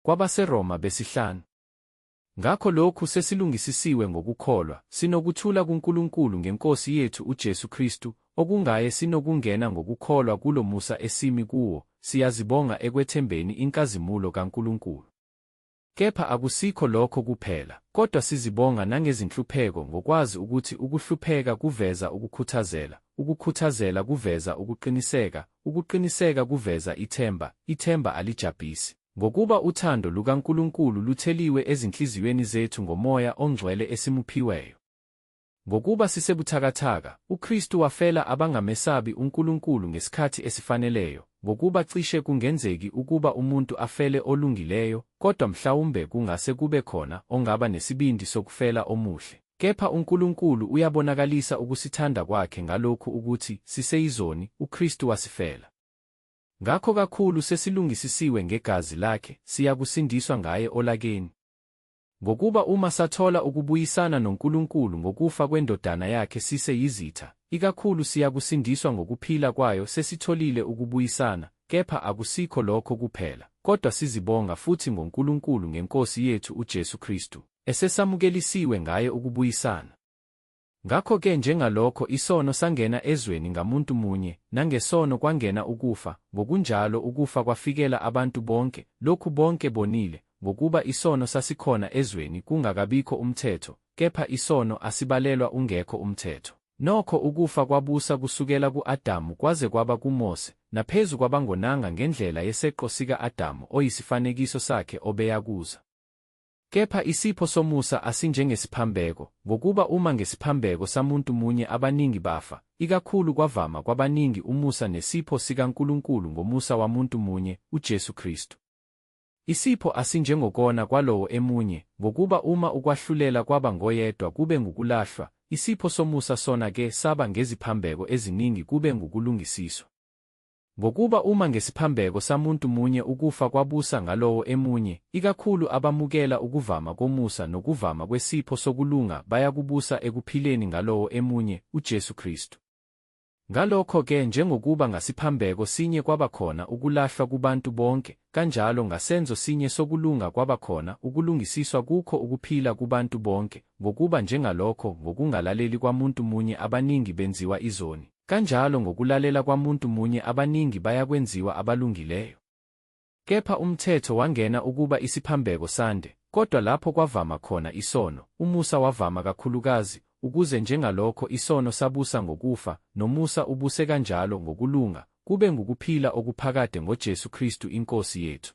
KwabaseRoma besihlanu. Ngakho lokhu sesilungisisiwe ngokukholwa, sinokuthula kuNkulunkulu ngeNkosi yethu uJesu Kristu, okungaye sinokungena ngokukholwa kulo musa esimi kuwo, siyazibonga ekwethembeni inkazimulo kaNkulunkulu. Kepha akusikho lokho kuphela, kodwa sizibonga nangezinhlupheko ngokwazi ukuthi ukuhlupheka kuveza ukukhuthazela, ukukhuthazela kuveza ukuqiniseka, ukuqiniseka kuveza ithemba, ithemba alijabhisi. Ngokuba uthando lukaNkulunkulu lutheliwe ezinhliziyweni zethu ngoMoya oNgcwele esimuphiweyo. Ngokuba sisebuthakathaka, uKristu wafela abangamesabi uNkulunkulu ngesikhathi esifaneleyo, ngokuba cishe kungenzeki ukuba umuntu afele olungileyo, kodwa mhlawumbe kungase kube khona ongaba nesibindi sokufela omuhle. Kepha uNkulunkulu uyabonakalisa ukusithanda kwakhe ngalokhu ukuthi siseyizoni, uKristu wasifela. Ngakho kakhulu sesilungisisiwe ngegazi lakhe, siyakusindiswa ngaye olakeni. Ngokuba uma sathola ukubuyisana noNkulunkulu ngokufa kweNdodana yakhe sise yizitha, ikakhulu siyakusindiswa ngokuphila kwayo sesitholile ukubuyisana, kepha akusikho lokho kuphela, kodwa sizibonga futhi ngoNkulunkulu ngeNkosi yethu uJesu Kristu, esesamukelisiwe ngaye ukubuyisana. Ngakho-ke njengalokho isono sangena ezweni ngamuntu munye, nangesono kwangena ukufa, ngokunjalo ukufa kwafikela abantu bonke, lokhu bonke bonile, ngokuba isono sasikhona ezweni kungakabikho umthetho, kepha isono asibalelwa ungekho umthetho. Nokho ukufa kwabusa kusukela ku-Adamu kwaze kwaba kuMose, naphezu kwabangonanga ngendlela yeseqo sika-Adamu oyisifanekiso sakhe obeyakuza. Kepha isipho somusa asinjengesiphambeko, ngokuba uma ngesiphambeko samuntu munye abaningi bafa, ikakhulu kwavama kwabaningi umusa nesipho sikaNkulunkulu ngomusa wamuntu munye, uJesu Kristu. Isipho asinjengokona kwalowo emunye, ngokuba uma ukwahlulela kwaba ngoyedwa kube ngukulahlwa, isipho somusa sona ke saba ngeziphambeko eziningi kube ngukulungisiswa. Ngokuba uma ngesiphambeko samuntu munye ukufa kwabusa ngalowo emunye, ikakhulu abamukela ukuvama komusa nokuvama kwesipho sokulunga bayakubusa ekuphileni ngalowo emunye, uJesu Kristu. Ngalokho-ke njengokuba ngasiphambeko sinye kwaba khona ukulahlwa kubantu bonke, kanjalo ngasenzo sinye sokulunga kwaba khona ukulungisiswa kukho ukuphila kubantu bonke, ngokuba njengalokho ngokungalaleli kwamuntu munye abaningi benziwa izoni, Kanjalo ngokulalela kwamuntu munye abaningi bayakwenziwa abalungileyo. Kepha umthetho wangena ukuba isiphambeko sande, kodwa lapho kwavama khona isono, umusa wavama kakhulukazi, ukuze njengalokho isono sabusa ngokufa, nomusa ubuse kanjalo ngokulunga, kube ngukuphila okuphakade ngoJesu Kristu iNkosi yethu.